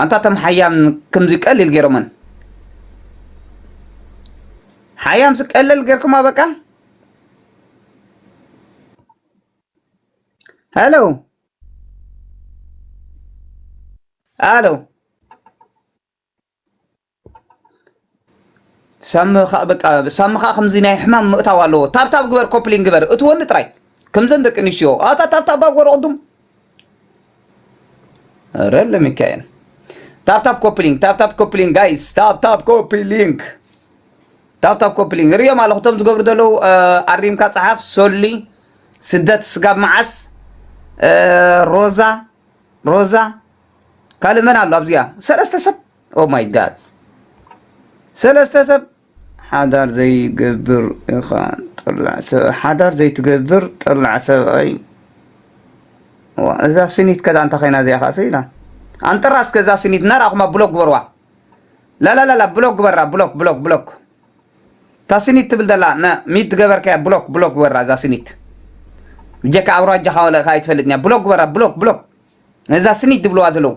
ኣንታ እቶም ሓያም ከምዚ ቀሊል ገይሮመን ሓያም ስቀለል ገርኩማ በቃ ሄሎ ሄሎ ሳሚ ከዓ በቃ ሳሚ ከዓ ከምዚ ናይ ሕማም ምእታው ኣለዎ ታብታብ ግበር ኮፕሊን ግበር እትወኒ ጥራይ ከምዘን ደቂ ኣንስትዮ ኣታ ታብታብ ባብ ገበሩ ቅድም ኧረ ለሚካኤል ታብታብ ኮፕሊንግ ታብታብ ኮፕሊንግ ጋይስ ታብታብ ኮፕሊንግ ታብታብ ኮፕሊንግ ርእዮም ኣለኹ እቶም ዝገብሩ ዘለዉ አ፣ ኣሪምካ ፀሓፍ ሶሊ ስደት ስጋብ መዓስ አ፣ ሮዛ ሮዛ ካልእ መን ኣሎ ኣብዚኣ ሰለስተ ሰብ ኦ ማይ ጋድ ሰለስተ ሰብ ሓዳር ዘይገብር ኢኻ ጠላዕ ሰብ ሓዳር ዘይትገብር ጠላዕ ሰብኣይ እዛ ስኒት ከዳ እንታይ ኮይና እዚኣ ካሰ ኢላ ኣንጥራ እስከ እዛ ስኒት እናርኣኹማ ብሎክ ግበርዋ ላላላላ ብሎክ ግበራ ብሎክ ብሎክ ብሎክ እታ ስኒት ትብል ዘላ ሚት ገበርከያ ብሎክ ብሎክ ግበራ እዛ ስኒት ብጀካ ኣውራጃኻ ወለእካ ኣይትፈልጥኛ ብሎክ ግበራ ብሎክ ብሎክ ነዛ ስኒት ዝብልዋ ዘለዉ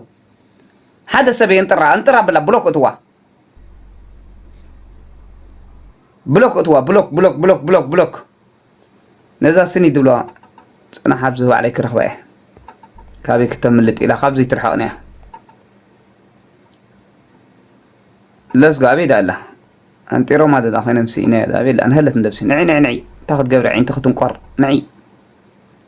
ሓደ ሰብ የንጥራ ኣንጥራ ብላ ብሎክ እትዋ ብሎክ እትዋ ብሎክ ብሎክ ብሎክ ብሎክ ብሎክ ነዛ ስኒ ዝብልዋ ፅናሕ ኣብዚ ባዕለይ ክረኽባ እየ ካበይ ክተምልጥ ኢላ ካብዚ ትርሕቕኒ እያ ለስጎ ኣበይ ዳ ኣላ ኣንጢሮማ ዘላ ኮይኖም ስኢነ ኣበይ ኣላ ንሀለት ንደብሲ ንዒ ንዒ ንዒ እንታይ ክትገብሪ ዓይንቲ ክትንቆር ንዒ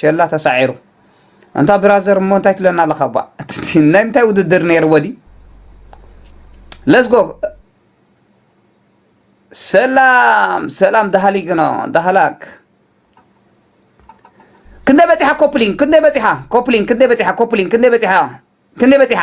ሸላ ተሳዒሩ ኣንታ ብራዘር እሞ እንታይ ትብለና ኣለካ ባ ናይ ምንታይ ውድድር ነይርዎ ድዩ ለዝጎ ሰላም ሰላም ዳሃሊግኖ ዳሃላክ ክንደይ በፂሓ ኮፕሊን ክንደይ በፂሓ ኮፕሊን ክንደይ በፂሓ ኮፕሊን ክንደይ በፂሓ ክንደይ በፂሓ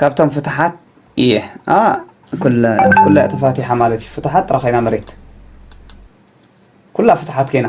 ካብቶም ፍትሓት እየ ኩላ እያ ተፋቲሓ ማለት እዩ ፍትሓት ጥራ ኮይና መሬት ኩላ ፍትሓት ኮይና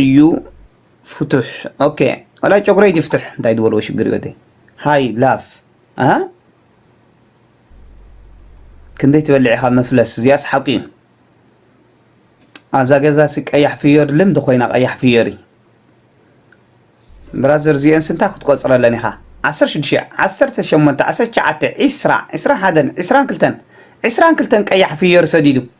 እዩ ፍቱሕ ኦኬ ዋላ ጨጉረይ ይፍትሕ እንታይ ዝበልዎ ሽግር እዩ ወደይ ሃይ ላፍ ኣሃ ክንደይ ትበልዕ ኢኻ መፍለስ እዚኣስ ሓቂ እዩ ኣብዛ ገዛሲ ቀያሕ ፍዮሪ ልምዲ ኮይና ቀያሕ ፍዮሪ ብራዘር እዚአን ስንታ ክትቆፅረለን ኢኻ ዓሰርተ ሽዱሽተ ዓሰርተ ሸሞንተ ዓሰርተ ትሽዓተ ዒስራ ዒስራ ሓደን ዒስራን ክልተን ዒስራን ክልተን ቀያሕ ፍዮሪ ሰዲዱ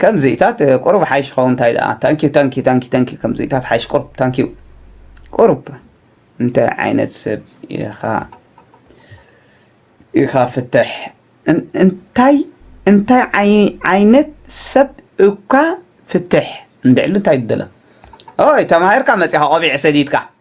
ከምዚታት ቁሩብ ሓይሽ ይኸውን እንታይ ደኣ ታንኪዩ ታንኪዩ ታንኪዩ ታንኪዩ ከምዚታት ሓይሽ ቁሩብ ታንኪዩ ቁሩብ እንታይ ዓይነት ሰብ ኢኻ ኢኻ ፍትሕ እንታይ እንታይ ዓይነት ሰብ እኳ ፍትሕ እንድዕሉ እንታይ ትደለ ኦይ ተማሂርካ መጺኻ ቆቢዕ ሰዲድካ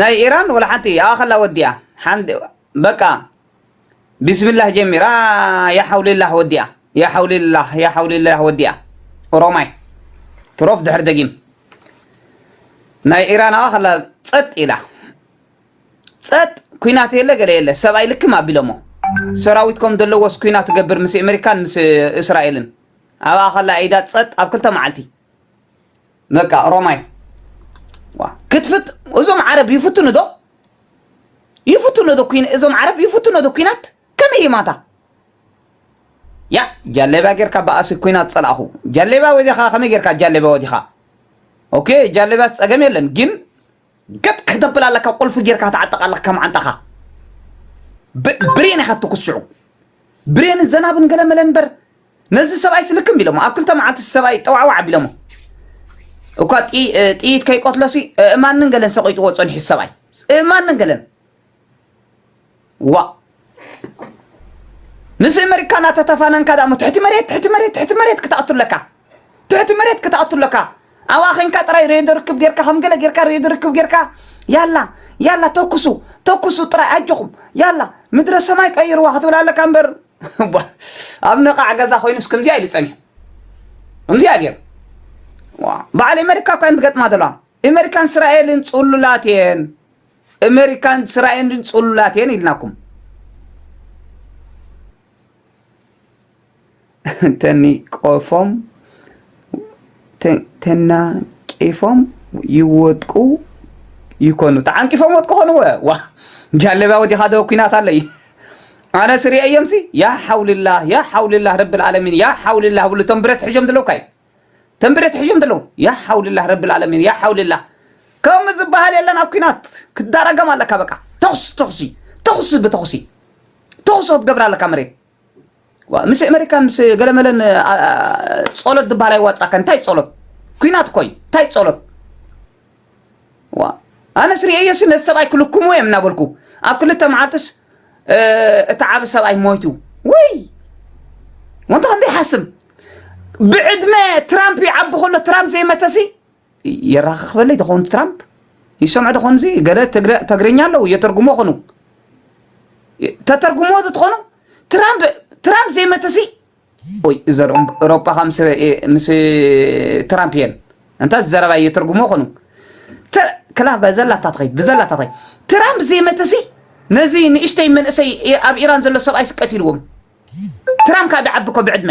ናይ ኢራን ወላ ሓንቲ ይኣኸላ ወዲኣ ሓንቲ በቃ ቢስሚላህ ጀሚራ ያሓውሊላህ ወዲኣ ያሓውሊላህ ያሓውሊላህ ወዲኣ ኦሮማይ ትሮፍ ድሕሪ ደጊም ናይ ኢራን ኣኸላ ጸጥ ኢላ ጸጥ ኩናት የለ ገለ የለ ሰብኣይ ልክም ኣቢሎሞ ሰራዊት ከም ዘለዎስ ኩናት ትገብር ምስ ኣሜሪካን ምስ እስራኤልን ኣብኣ ከላ ኢዳ ጸጥ ኣብ ክልተ መዓልቲ በቃ ኦሮማይ ዋ ክትፍት እዞም ዓረብ ይፍትኑ ዶ ይፍትኑ ዶ ኩን እዞም ዓረብ ይፍትኑ ዶ ኩናት ከመይ ይማታ ያ ጃለቢያ ጌርካ በኣሲ ኩናት ጸላእኹ ጃለቢያ ወዲኻ ከመይ ጌርካ ጃለቢያ ወዲኻ ኦኬ ጃለቢያ ጸገም የለን ግን ገጥ ከተብል ኣለካ ቁልፊ ጌርካ ተዓጠቕ ኣለካ ከም ዓንጣኻ ብሬን ኢኻ ትኩስዑ ብሬን ዘናብን ገለመለ እንበር ነዚ ሰብኣይ ስልክም ቢሎሞ ኣብ ክልተ መዓልቲ ሰብኣይ ጠዋዕዋዕ ኣቢሎሞ እኳ ጥይት ከይቆትሎሲ እእማንን ገለን ሰቂጥዎ ፀኒሑ ሰብኣይ እእማንን ገለን ዋእ ምስ ኣመሪካ እናተተፋነንካ ዳሞ ትሕቲ መሬት ትሕቲ መሬት ትሕቲ መሬት ክትኣቱ ኣለካ ትሕቲ መሬት ክትኣቱ ኣለካ ኣብኣ ኮንካ ጥራይ ሬድዮ ርክብ ጌርካ ከም ገለ ጌርካ ሬድዮ ርክብ ጌርካ ያላ ያላ ተኩሱ ተኩሱ ጥራይ ኣጆኹም ያላ ምድረ ሰማይ ቀይርዋ ክትብል ኣለካ እምበር ኣብ ነቓዕ ገዛ ኮይኑስ ከምዚኣ ኢሉ ጸኒሑ ከምዚኣ ገይሩ በዓል ኣሜሪካ እኳ ትገጥማ ዘለዋ ኣሜሪካን እስራኤልን ጽሉላት እየን ኣሜሪካን እስራኤልን ጽሉላት እየን ኢልናኩም እንተኒ ቆፎም ተናቂፎም ይወድቁ ይኮኑ ተዓንቂፎም ወድቁ ኮንወ ዋ ጃለብያ ወዲኻ ዶ ኩናት ኣሎ እዩ ኣነ ስሪአ እዮምሲ ያ ሓውልላ ያ ሓውልላ ረቢ ልዓለሚን ያ ሓውልላ ብሉ እቶም ብረት ሕጆም ዘለዉ ካይ እቶም ብረት ሕጆም ዘለዉ ያ ሓውልላ ረቢ ልዓለሚን ያ ሓውልላ ከምኡ ዝበሃል የለን ኣብ ኩናት ክዳረገም ኣለካ በቃ ተኹሲ ተኹሲ ተኹሲ ብተኹሲ ተኹሲ ክትገብር ኣለካ መሬት ምስ ኣመሪካ ምስ ገለመለን ጸሎት ዝበሃል ኣይዋጻካን እንታይ ጸሎት ኩናት ኮይ እንታይ ጸሎት ዋ ኣነስ ርእየሲ ነዚ ሰብኣይ ክልክሙ እዮም እናበልኩ ኣብ ክልተ መዓልትስ እቲ ዓብ ሰብኣይ ሞይቱ ወይ ወንታ ክንደይ ሓስም ብዕድመ ትራምፕ ይዓቢ ከሎ ትራምፕ ዘይመተሲ የራክክበለይ ተኾኑ ትራምፕ ይሰምዑ ተኾኑ እዚ ገለ ተግርኛ ኣለዉ የተርጉሞ ኾኑ ተተርጉሞ ተኾኑ ትራምፕ ትራምፕ ዘይመተሲ ወይ ዘርኦም ኤሮፓ ካብ ምስ ትራምፕ እየን እንታ ዘረባ የተርጉሞ ኾኑ ክላ በዘላታ ትኸይድ ብዘላታ ትኸይድ ትራምፕ ዘይመተሲ ነዚ ንእሽተይ መንእሰይ ኣብ ኢራን ዘሎ ሰብኣይ ስቀት ኢልዎም ትራምፕ ካብ ይዓቢ እኮ ብዕድመ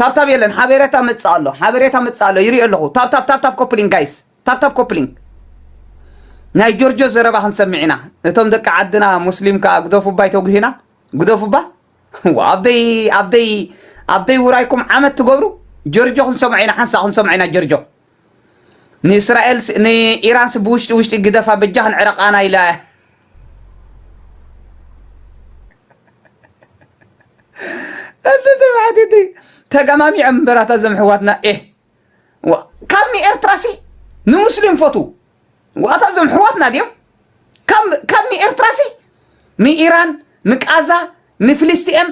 ታብታብ የለን ሓበሬታ መጽእ ኣሎ ሓበሬታ መጽእ ኣሎ ይሪኦ ኣለኹ ታብታብ ታብታብ ኮፕሊንግ ጋይስ ታብታብ ኮፕሊንግ ናይ ጆርጆ ዘረባ ክንሰምዕ ኢና እቶም ደቂ ዓድና ሙስሊም ከዓ ግደፉ እባ ይተጉሂና ግደፉ እባ ኣብደይ ኣብደይ ኣብደይ ውራይኩም ዓመት ትገብሩ ጆርጆ ክንሰምዖ ኢና ሓንሳእ ክንሰምዖ ኢና ጆርጆ ንእስራኤል ንኢራን ስ ብውሽጢ ውሽጢ ግደፋ በጃኽ ንዕረቃና ኢላ እያ እዚ ትብዓት እቲ ተገማሚዖም እምበራታ እዞም ሕዋትና ኤ ካብ ንኤርትራ ሲ ንሙስሊም ፈቱ ዋታ እዞም ሕዋትና ድዮም ካብ ንኤርትራ ሲ ንኢራን ንቃዛ ንፍልስቲኤም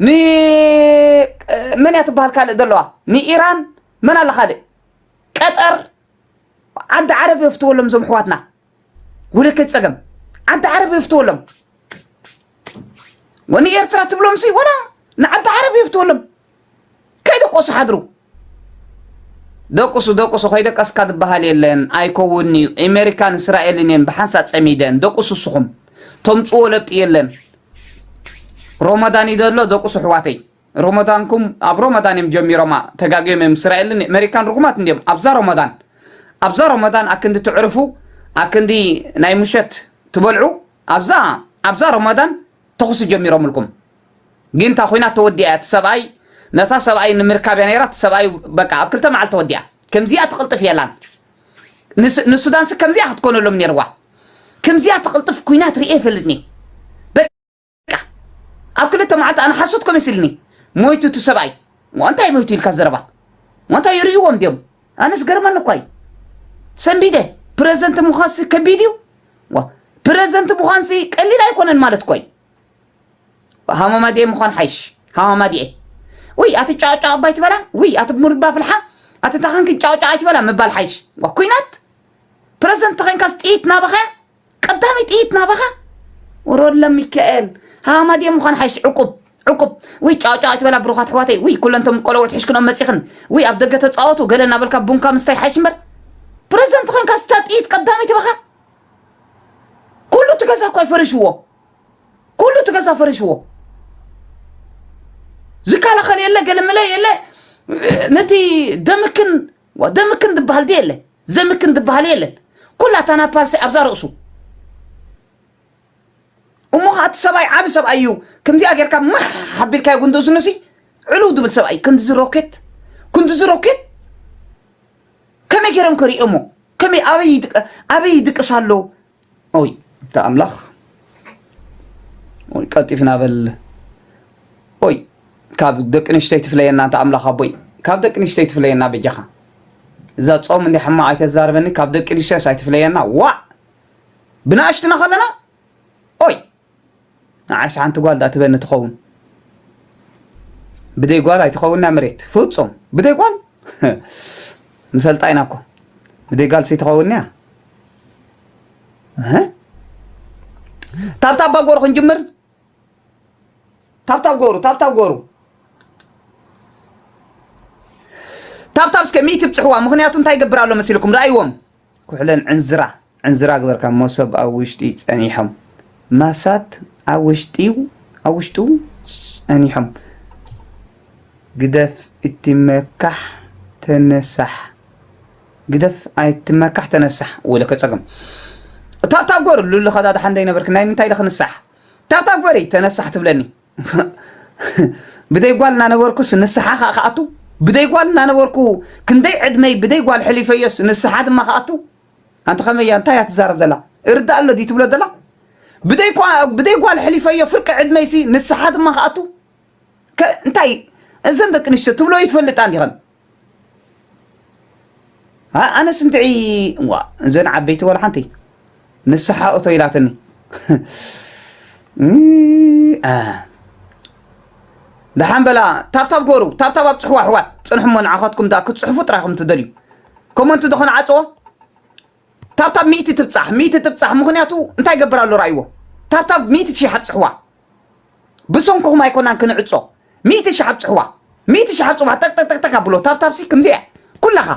ንመን እያ ትበሃል ካልእ ዘለዋ ንኢራን መን ኣለ ካልእ ቀጠር ዓዲ ዓረብ የፍትወሎም እዞም ኣሕዋትና ውልክት ጸገም ዓዲ ዓረብ የፍትወሎም ወንኤርትራ ትብሎምሲ ወላ ንዓዲ ዓረብ የፍትወሎም ከይደቆሱ ሓድሩ ደቁሱ ደቁሱ ከይደቀስካ ዝበሃል የለን ኣይከውን እዩ ኣሜሪካን እስራኤልን እየን ብሓንሳ ፀሚደን ደቁሱ ስኹም ተምፅዎ ለብጢ የለን ሮመዳን ይደሎ ደቁሱ ኣሕዋተይ ሮሞዳንኩም ኣብ ሮሞዳን እዮም ጀሚሮማ ተጋግዮም እዮም እስራኤልን ኣሜሪካን ርጉማት እንዲዮም ኣብዛ ሮሞዳን ኣብዛ ሮሞዳን ኣክንዲ ትዕርፉ ኣክንዲ ናይ ምሸት ትበልዑ ኣብዛ ኣብዛ ሮሞዳን ተኹሲ ጀሚሮምልኩም ግን እታ ኩናት ተወዲኣ እያ እቲ ሰብኣይ ነታ ሰብኣይ ንምርካብ እያ ነይራ እቲ ሰብኣይ በቃ ኣብ ክልተ መዓልቲ ተወዲኣ ከምዚኣ ትቕልጥፍ የላን ንሱዳንሲ ከምዚኣ ክትኮነሎም ነይርዋ ከምዚኣ ትቕልጥፍ ኩናት ርኤ ይፈልጥኒ ኣብ ክልተ መዓልቲ ኣነ ሓሶት ከመሲልኒ ሞይቱ እቲ ሰብኣይ እንታይ ሞይቱ ኢልካ ዘረባ እንታይ ይርእይዎም ድዮም ኣነ ዝገርመኒ እኳ እዩ ሰንቢደ ፕረዘንት ምዃንሲ ከቢድ እዩ ፕረዘንት ምዃንሲ ቀሊል ኣይኮነን ማለት እኮ እዩ ሃማማዲኤ ምዃን ሓይሽ ሃማማዲኤ ወይ ኣቲ ጫጫ ኣባይ ትበላ ወይ ኣቲ ሙልባ ፍልሓ ኣቲ ታኻንክን ጫጫ ኣይትበላ ምባል ሓይሽ ኩናት ፕረዘንት ተኸንካስ ጥይት ናባኸያ ቀዳመይ ጥይት ናባኻ ወረወለ ሚካኤል ሃማድየ ምዃን ሓይሽ ዕቁብ ዕቁብ ውይ ጫውጫው ኣይትበላ ብሩኻት ኣሕዋተይ ውይ ኩለን እቶም ቆለውዕት ሕሽክኖም መፂኽን ውይ ኣብ ደገ ተፃወቱ ገለ እናበልካ ቡንካ ምስታይ ሓይሽ እምበር ፕረዚደንት ኮይንካ ስታ ጥይት ቀዳመይቲ በኻ ኩሉ እቲ ገዛ እኳ ይፈሪሽዎ ኩሉ እቲ ገዛ ፈሪሽዎ ዝከላኸል የለ ገለመለ የለ ነቲ ደምክን ደምክን ዝበሃል ድየ የለን ዘምክን ዝበሃል የለን ኩላ ታናፓልሲ ኣብዛ ርእሱ እሞ ከዓ እቲ ሰብኣይ ዓብ ሰብኣይ እዩ ከምዚኣ ጌርካ ማሕ ሓቢልካዮ ጉንዲ እዝኑ ሲ ዕልው ድብል ሰብኣይ ክንዲዚ ሮኬት ክንዲዚ ሮኬት ከመይ ገይሮም ከሪኦሞ ከመይ ኣበይ ይድቅ- ኣበይ ይድቅስ ኣሎ ኦይ እታ ኣምላኽ ኦይ ቀልጢፍና በል ኦይ ካብ ደቂ ንሽተይ ትፍለየና እንተ ኣምላኽ ኣቦይ ካብ ደቂ ንሽተይ ትፍለየና በጃኻ እዛ ጾም እንዲ ሕማቕ ኣይተዛርበኒ ካብ ደቂ ንሽተስ ኣይትፍለየና ዋዕ ብናእሽትና ከለና ኦይ ንዓይስ ሓንቲ ጓል ዳኣ ትበኒ ትኸውን ብደይ ጓል ኣይትኸውና መሬት ፍጹም ብደይ ጓል ንፈልጣ ኢና እኮ ብደይ ጓል ሲትኸውን እያ ታብታብ ባጎሩ ክንጅምር ታብታብ ጎሩ ታብታብ ጎሩ ታብታብ እስከ ሚእቲ ብፅሕዋ ምክንያቱ እንታይ ይገብር ኣሎ መሲልኩም ረኣይዎም ኩሕለን ዕንዝራ ዕንዝራ ግበርካ ሞሶብ ኣብ ውሽጢ ጸኒሖም ማሳት ኣብ ውሽጢ ኣብ ውሽጡ ጸኒሖም ግደፍ እትመካሕ ተነሳሕ ግደፍ ኣይትመካሕ ተነሳሕ ወለ ከጸገም ታብታብ ጎር ሉሉ ከዳድሓ እንደይነበርክ ናይ ምንታይ ለ ክንሳሕ ታብታብ ጎሪ ተነሳሕ ትብለኒ ብደይ ጓል እናነበርኩስ ንስሓ ከዓ ክኣቱ ብደይ ጓል እናነበርኩ ክንደይ ዕድመይ ብደይ ጓል ሕሊፈዮስ ንስሓ ድማ ክኣቱ ኣንቲ ከመይ እያ እንታይ እያ ትዛረብ ዘላ እርዳእ ኣሎ ድዩ ትብሎ ዘላ ብደይ ብደይ ጓል ሕሊፈዮ ፍርቂ ዕድመይሲ ንስሓ ድማ ክኣቱ እንታይ እዘን ደቂ ኣንስትዮ ትብሎ ይትፈልጣ እንዲኸን ኣነስ እንትዒ እዋ እዘን ዓበይቲ ዋላ ሓንቲ ንስሓ እቶ ኢላትኒ ደሓን በላ ታብታብ ጎሩ ታብታብ ኣብ ፅሕዋ ኣሕዋት ፅንሕሞ ንዓኻትኩም ዳ ክትፅሕፉ ጥራይ ከም ትደልዩ ኮመንት ዝኾነ ዓፅዎ ታብታብ ሚእቲ ትብጻሕ ሚእቲ ትብጻሕ ምኽንያቱ እንታይ ይገብር ኣሎ ርኣይዎ ታብታብ ሚእቲ ሽሕ ኣብጽሕዋ ብሰንኩኹም ኣይኮናን ክንዕጾ ሚእቲ ሽሕ ኣብጽሕዋ ሚእቲ ሽሕ ኣብጽሕዋ ጠቅጠቅጠቅጠቅ ኣብሎ ታብታብሲ ከምዚ እያ ኩላኻ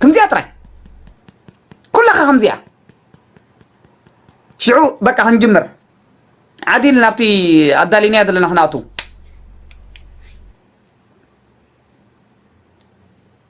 ከምዚያ ጥራይ ኩላኻ ከምዚያ ሽዑ በቃ ክንጅምር ዓዲል ናብቲ ኣዳሊናያ ዘለና ክንኣቱ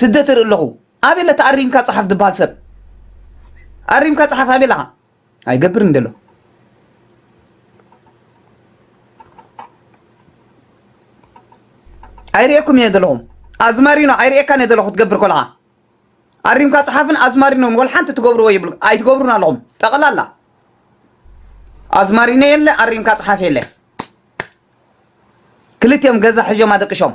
ስደት ይርኢ ኣለኹ ኣበይ ኣለካ ኣሪምካ ጸሓፍ ዝበሃል ሰብ ኣሪምካ ጸሓፍ ኣበይ ኣለኻ ኣይገብርን ዘሎ ኣይርእየኩም እየ ዘለኹም ኣዝማሪኖ ኣይርእየካን እየ ዘለኹ ክትገብር ኮልኻ ኣሪምካ ጸሓፍን ኣዝማሪኖን ወል ሓንቲ ትገብርዎ ይብሉ ኣይትገብሩን ኣለኹም ጠቕላላ ኣዝማሪኖ የለ ኣሪምካ ጸሓፍ የለ ክልቲኦም ገዛ ሕዦም ኣደቅሾም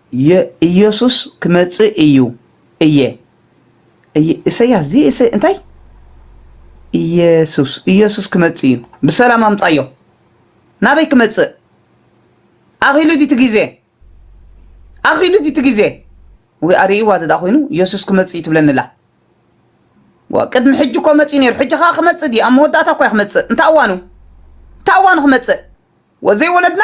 የኢየሱስ ክመጽእ እዩ እየ እሰያስ ዚ እንታይ ኢየሱስ ኢየሱስ ክመጽእ እዩ ብሰላም ኣምጻዮ ናበይ ክመጽእ ኣኺሉ ዲቲ ግዜ ኣኺሉ ዲቲ ግዜ ወይ ኣርእይዋ ተዳ ኮይኑ ኢየሱስ ክመጽእ እዩ ትብለኒ ኣላ ቅድሚ ሕጂ እኮ መጽኡ ነይሩ ሕጂ ከዓ ክመጽእ ድዩ ኣብ መወዳእታ እኳ ክመጽእ እንታይ እዋኑ እንታይ እዋኑ ክመጽእ ወዘይ ወለድና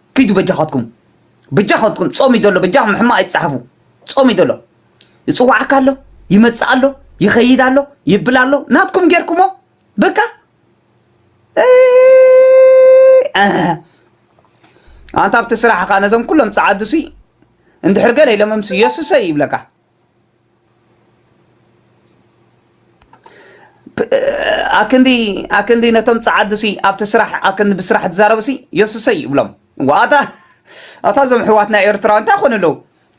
ኪዱ በጃኻትኩም በጃኻትኩም ጾም እዩ ዘሎ በጃኹም ሕማቕ ኣይትጽሓፉ ጾም እዩ ዘሎ ይጽዋዓካ ኣሎ ይመጽእ ኣሎ ይኸይድ ኣሎ ይብል ኣሎ ናትኩም ጌርኩሞ በቃ ኣንታ ኣብቲ ስራሕኻ ነዞም ኩሎም ጸዓዱሲ እንድሕር ገለ ኢሎምምስ የሱሰይ ይብለካ ኣክንዲ ኣክንዲ ነቶም ጸዓዱሲ ኣብቲ ስራሕ ኣክንዲ ብስራሕ ትዛረቡሲ የሱሰይ ይብሎም ዋታ ኣታ ዞም ሕዋትና ኤርትራዊ እንታይ ኮኑ ኣለዉ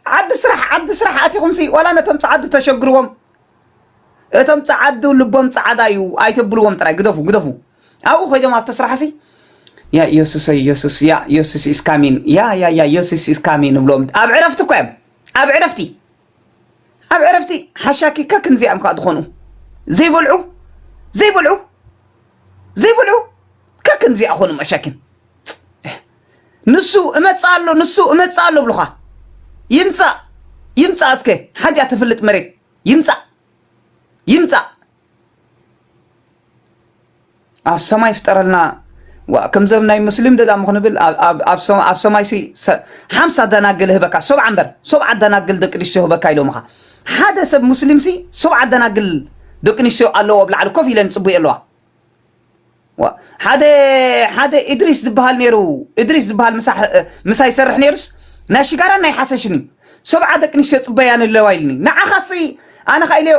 ዓዲ ስራሕ ዓዲ ስራሕ ኣቲኹምሲ ዋላ ነቶም ጸዓዱ ተሸግርዎም እቶም ጸዓዱ ልቦም ጸዓዳ እዩ ኣይተብልዎም ጥራይ ግደፉ ግደፉ ኣብኡ ኮይዶም ኣብቲ ስራሕሲ ያ የሱሰይ የሱስ ያ የሱስ ኢስ ካሚን ያ ያ ያ የሱስ ኢስ ካሚን ንብሎም ኣብ ዕረፍቲ እኮ እዮም ኣብ ዕረፍቲ ኣብ ዕረፍቲ ሓሻኪ ከክም ዚኣም ከ ዝኾኑ ዘይበልዑ ዘይበልዑ ዘይበልዑ ከክም ዚኣ ኾኑ መሻኪን ንሱ እመጽእ ኣሎ ንሱ እመጽእ ኣሎ ብልኻ ይምጻእ ይምጻእ እስከ ሓጃ ተፍልጥ መሬት ይምጻእ ይምጻእ ኣብ ሰማይ ፍጠረልና ዋእ ከምዚ ኣብ ናይ ሙስሊም ደዳሙ ክንብል ኣብ ሰማይ ሲ ሓምሳ ደናግል ህበካ ሰብዓ እምበር ሰብዓ ደናግል ደቂ ኣንስትዮ ህበካ ኢሎምኻ ሓደ ሰብ ሙስሊም ሲ ሰብዓ ደናግል ደቂ ኣንስትዮ ኣለዎ ኣብ ላዕሊ ኮፍ ኢለን ይጽቡየ ኣለዋ ዋእ ሓደ ሓደ እድሪስ ዝበሃል ነይሩ እድሪስ ዝበሃል ምሳ ይሰርሕ ነይሩስ ናይ ሽጋራን ናይ ሓሰሽን እዩ ሰብዓ ደቂ ኣንስትዮ ጽበያን ኣለዋ ኢልኒ ንዓኻሲ ኣነ ኸኢለዮ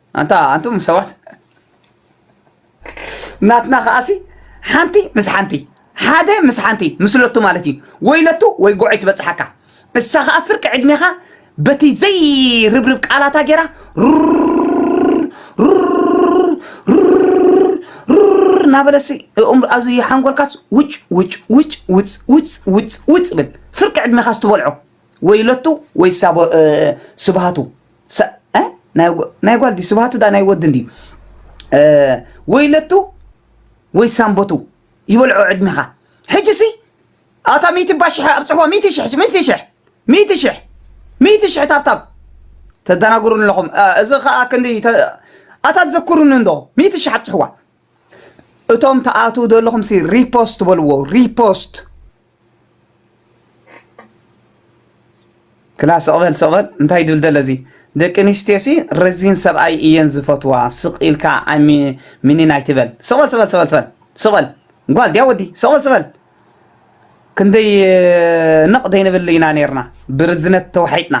ኣንታ ኣንቱም ሰባት ናትና ከኣሲ ሓንቲ ምስ ሓንቲ ሓደ ምስ ሓንቲ ምስለቱ ማለት እዩ ወይለቱ ወይ ጎዒ ትበፅሓካ እሳ ከዓ ፍርቂ ዕድሜኻ በቲ ዘይርብርብ ቃላታ ጌራ እናበለሲ እኦም ኣብዚ ሓንጎልካስ ውጭ ውጭ ውጭ ውፅ ውፅ ውፅ ውፅ ብል ፍርቂ ዕድሜኻስ ትበልዖ ወይለቱ ወይ ስብሃቱ ናይ ጓል ድዩ ስብሃቱ ድኣ ናይ ወዲ እንድዩ ወይ ለቱ ወይ ሳምቦቱ ይበልዖ ዕድሜኻ ሕጂሲ ኣታ ሚእቲ እባ ሽሕ ኣብፅሕዋ ሚእቲ ሽሕ ሚእቲ ሽሕ ሚእቲ ሽሕ ሚእቲ ሽሕ ታብታብ ተደናግሩን ኣለኹም እዚ ከዓ ክንዲ ኣታ ዘኩሩኒ እንዶ ሚእቲ ሽሕ ኣብፅሕዋ እቶም ተኣትዉ ዘለኹም ሲ ሪፖስት በልዎ ሪፖስት ክላ ስቕ በል ስቕ በል እንታይ ድብል ደለ እዚ ደቂ ኣንስትዮሲ ረዚን ሰብኣይ እየን ዝፈትዋ ስቕ ኢልካ ሚኒን ኣይትበል ስቕ በል ስቕ በል ስቕ በል ስቕ በል ጓል ድያ ወዲ ስቕ በል ስቕ በል ክንደይ ነቕ ዘይንብል ኢና ነርና ብርዝነት ተዋሒጥና